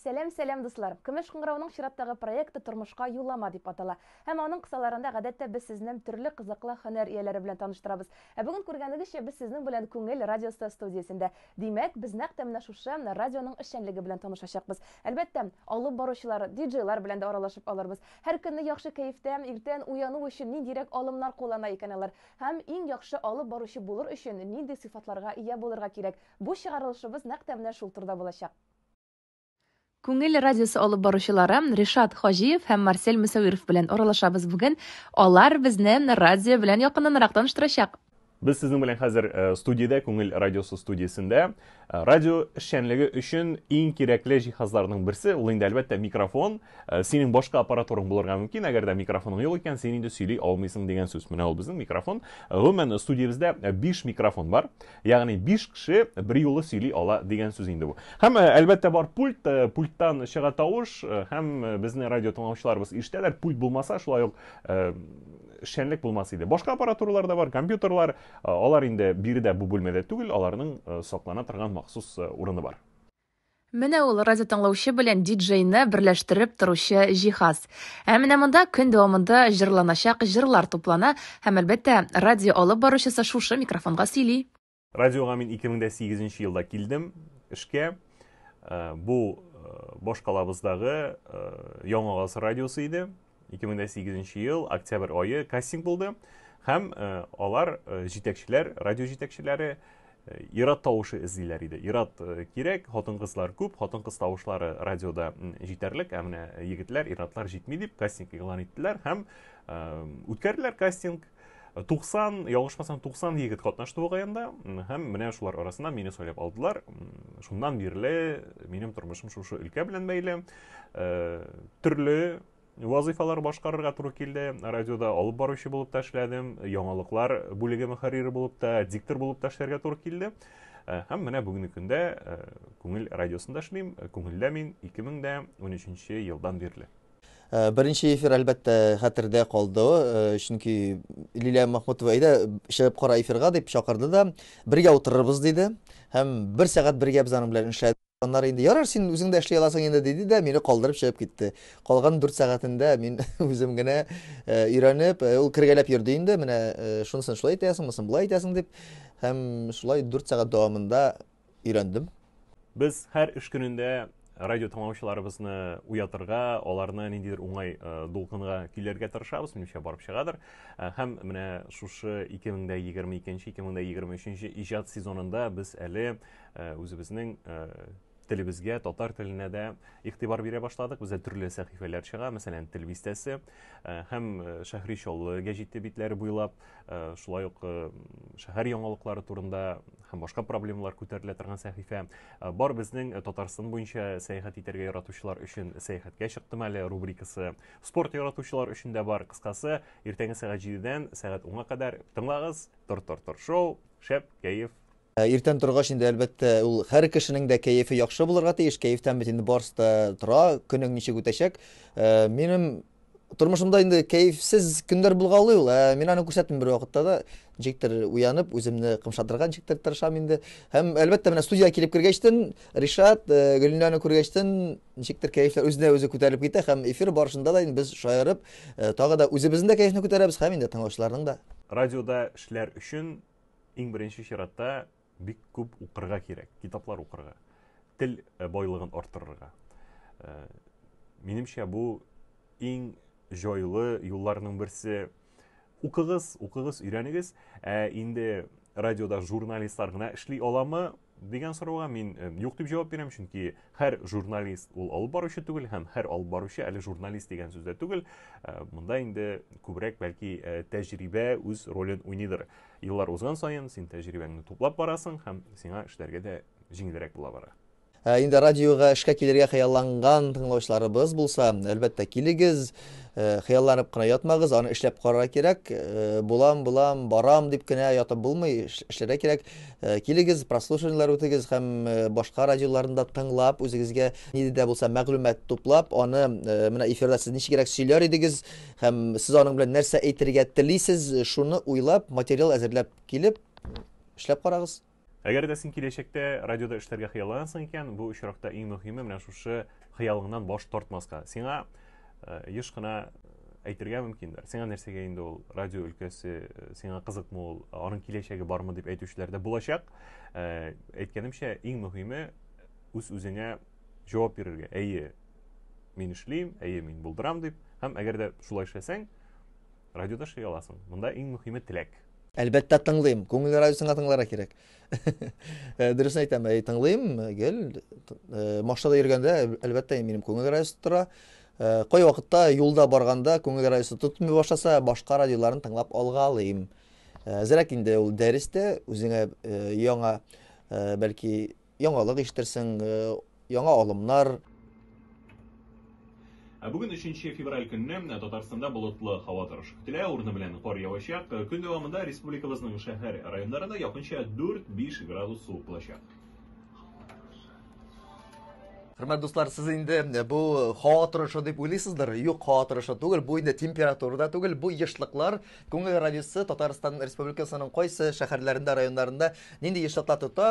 Сәлам, сәлам дуслар. Көмеш кыңгырауның чираттагы проекты тормышка юллама дип атала. Һәм аның кысаларында гадәттә без сезне төрле кызыклы һөнәр ияләре белән таныштырабыз. Ә бүген күргәнегезчә без сезнең белән Күңел радиосы студиясендә. Димәк, без нәкъ тә менә шушы радионың эшчәнлеге белән танышачакбыз. Әлбәттә, алып баручылар, диджейлар белән дә аралашып алырбыз. Һәр көнне яхшы кәефтә, иртән уяну өчен ниндирәк алымнар куллана икән алар? Һәм иң яхшы алып баручы булыр өчен нинди сыйфатларга ия булырга кирәк? Бу чыгарылышыбыз нәкъ тә менә шул турда булачак. Күңел радиосы алып баручылары Ришат Хаҗиев һәм Марсель Мөсәвиров белән аралашабыз бүген. Алар безне радио белән якыннанрак таныштырачак. Без сезнең белән хәзер студиядә, Күңел радиосы студиясендә. Э, радио эшчәнлеге өчен иң кирәкле җиһазларның берсе ул инде әлбәттә микрофон э, синең башка аппаратураң булырга мөмкин әгәр дә микрофоның юк икән син инде сөйли алмыйсың дигән сүз менә ул безнең микрофон гомумән студиябездә 5 э, микрофон бар ягъни 5 кеше бер юлы сөйли ала дигән сүз инде бу һәм әлбәттә бар пульт пульттан чыга тавыш һәм безне радио тыңлаучыларыбыз ишетәләр пульт булмаса шулай ук эшчәнлек булмас иде башка аппаратуралар да бар компьютерлар Э, алар инде биредә бу бүлмәдә түгел, аларның э, саклана торган махсус э, урыны бар. Менә ул радио тыңлаучы белән диджейны берләштереп торучы җиһаз. Ә менә монда көн дәвамында җырланачак җырлар туплана һәм әлбәттә радио алып баручысы шушы микрофонга сөйли. Радиога мин 2008 елда килдем эшкә. Бу башкалабыздагы Яңа радиосы иде. 2008 ел октябрь айы кастинг булды һәм алар җитәкчеләр радио җитәкчеләре ират тавышы эзлиләр иде ират кирәк хатын кызлар күп хатын кыз тавышлары радиода җитәрлек ә менә егетләр иратлар җитми дип кастинг игълан иттеләр һәм үткәрделәр кастинг 90, ялгышмасам, 90 егет катнашты бу гаенда, һәм менә шулар арасында мине сайлап алдылар. Шуннан бирле минем тормышым шушы өлкә белән бәйле. Э, төрле вазыйфалар башкарырга туры килде. Радиода алып баручы булып та эшләдем, яңалыклар бүлеге мөхәррире булып та, диктор булып та эшләргә туры килде. Э, һәм менә бүгенге көндә э, Күңел радиосында эшлим. Күңелдә мин 2013 елдан бирле. Беренче эфир, әлбәттә, хәтердә калды, чөнки Лилия Махмутова, әйдә, чыгып кара эфирга, дип чакырды да, бергә утырырбыз, диде. Һәм бер сәгать бергә без аның белән эшләдек. Аннары инде, ярар, син үзең дә эшли аласың инде, диде дә, мине калдырып чыгып китте. Калган дүрт сәгатендә мин үзем генә өйрәнеп, ул кергәләп йөрде инде, менә шунысын шулай итәсең, монысын болай итәсең, дип. Һәм шулай дүрт сәгать дәвамында өйрәндем. Без һәр эш көнендә радио тыңлаучыларыбызны уятырга, аларны ниндидер уңай э, дулкынга көйләргә тырышабыз, минемчә барып чыгадыр. Э, һәм менә шушы 2022-2023 иҗат сезонында без әле э, үзебезнең телебезгә, татар теленә дә игътибар бирә башладык. Бездә төрле сәхифәләр чыга, мәсәлән, тел бистәсе һәм Шәһри Чаллы гәҗите битләре буйлап Э, шулай ук э, шәһәр яңалыклары турында һәм башка проблемалар күтәрелә торган сәхифә э, бар безнең татарстан буенча сәяхәт итәргә яратучылар өчен сәяхәткә чыктым әле рубрикасы спорт яратучылар өчен дә бар кыскасы иртәнге сәгать җидедән сәгать онга кадәр тыңлагыз тор тор тор шоу шәп кәеф Иртән торгач инде, әлбәттә, ул һәр кешенең дә кәефе яхшы булырга тиеш, кәефтән бит инде барысы да тора, көнең ничек үтәчәк. Минем тормышымда инде кәефсез көннәр булгалый ул, ә мин аны күрсәтмим бервакытта да. Ничектер уянып, үземне кымшатырга ничектер тырышам инде. Һәм, әлбәттә, менә студиягә килеп кергәчтен, Ришат, Гөлинаны күргәчтен, ничектер кәефләр үзенә-үзе күтәрелеп китә һәм эфир барышында да инде без шаярып, тагы да үзебезнең дә кәефне күтәрәбез һәм инде тыңлаучыларның да. Радиода эшләр өчен Иң беренче чиратта бик күп укырга кирәк, китаплар укырга, тел э, байлыгын арттырырга. Э, минемчә бу иң җайлы юлларның берсе. Укыгыз, укыгыз, өйрәнегез. Ә инде радиода журналистлар гына эшли аламы? Дигән сорауга мин юк дип җавап бирәм, чөнки һәр журналист ул алып баручы түгел һәм һәр алып баручы әле журналист дигән сүз дә түгел. Э, монда инде күбрәк бәлки э, тәҗрибә үз ролен уйныйдыр. Еллар узган саен син тәҗрибәңне туплап барасың һәм сиңа эшләргә дә җиңелрәк була бара. Ә инде радиога эшкә килергә хыялланган тыңлаучыларыбыз булса, әлбәттә, килегез, э, хыялланып кына ятмагыз, аны эшләп карарга кирәк. Э, булам, булам, барам дип кенә ятып булмый, эшләргә кирәк. Э, килегез, прослушиваниеләр үтегез һәм э, башка радиоларында тыңлап, үзегезгә нидә дә булса мәгълүмат туплап, аны э, менә эфирда сез ничегрәк сөйләр идегез һәм сез аның белән нәрсә әйтергә телисез, шуны уйлап, материал әзерләп килеп, эшләп карагыз. Әгәр дә син киләчәктә радиода эшләргә хыялланасың икән, бу очракта иң мөһиме менә шушы хыялыңнан баш тартмаска сиңа э, еш кына әйтергә мөмкиндер сиңа нәрсәгә инде ул радио өлкәсе э, сиңа кызыкмы ул аның киләчәге бармы дип әйтүчеләр дә булачак э, әйткәнемчә иң мөһиме үз үзеңә җавап бирергә әйе мин эшлим әйе мин булдырам дип һәм әгәр дә шулай эшләсәң радиода эшли аласың монда иң мөһиме теләк әлбәттә тыңлыйм күңел радиосын тыңларга кирәк Э, дөресен әйтәм, әй, тыңлыйм, гел. Э, машинада йөргәндә, әлбәттә, минем күңел райысы тора. Э, кай вакытта юлда барганда күңел райысы тотмый башласа, башка радиоларын тыңлап алгалыйм. Әзрәк инде ул дәрестә үзеңә яңа, бәлки, яңалык ишетерсең, Яңа алымнар. Ә бүген 3 февраль көнне Татарстанда болытлы һава торышы көтелә, урыны белән кар явачак. Көн дәвамында республикабызның шәһәр районнарында якынча 4-5 градус суык булачак. Хөрмәт дуслар, сез инде э, бу һава торышы дип уйлыйсыздыр. Юк, һава торышы түгел, бу инде температура да түгел, бу ешлыклар. Күңел радиосы Татарстан Республикасының кайсы шәһәрләрендә, районнарында нинди ешлыклар тота?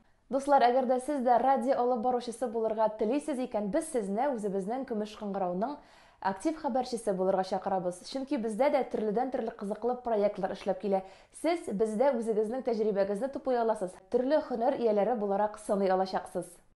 Дуслар, әгәр дә сез дә радио алып баручысы булырга телисез икән, без сезне үзебезнең Көмеш кыңгырауның актив хәбәрчесе булырга чакырабыз. Чөнки бездә дә төрледән-төрле кызыклы проектлар эшләп килә. Сез бездә үзегезнең тәҗрибәгезне тупый аласыз, төрле һөнәр ияләре буларак сыный алачаксыз.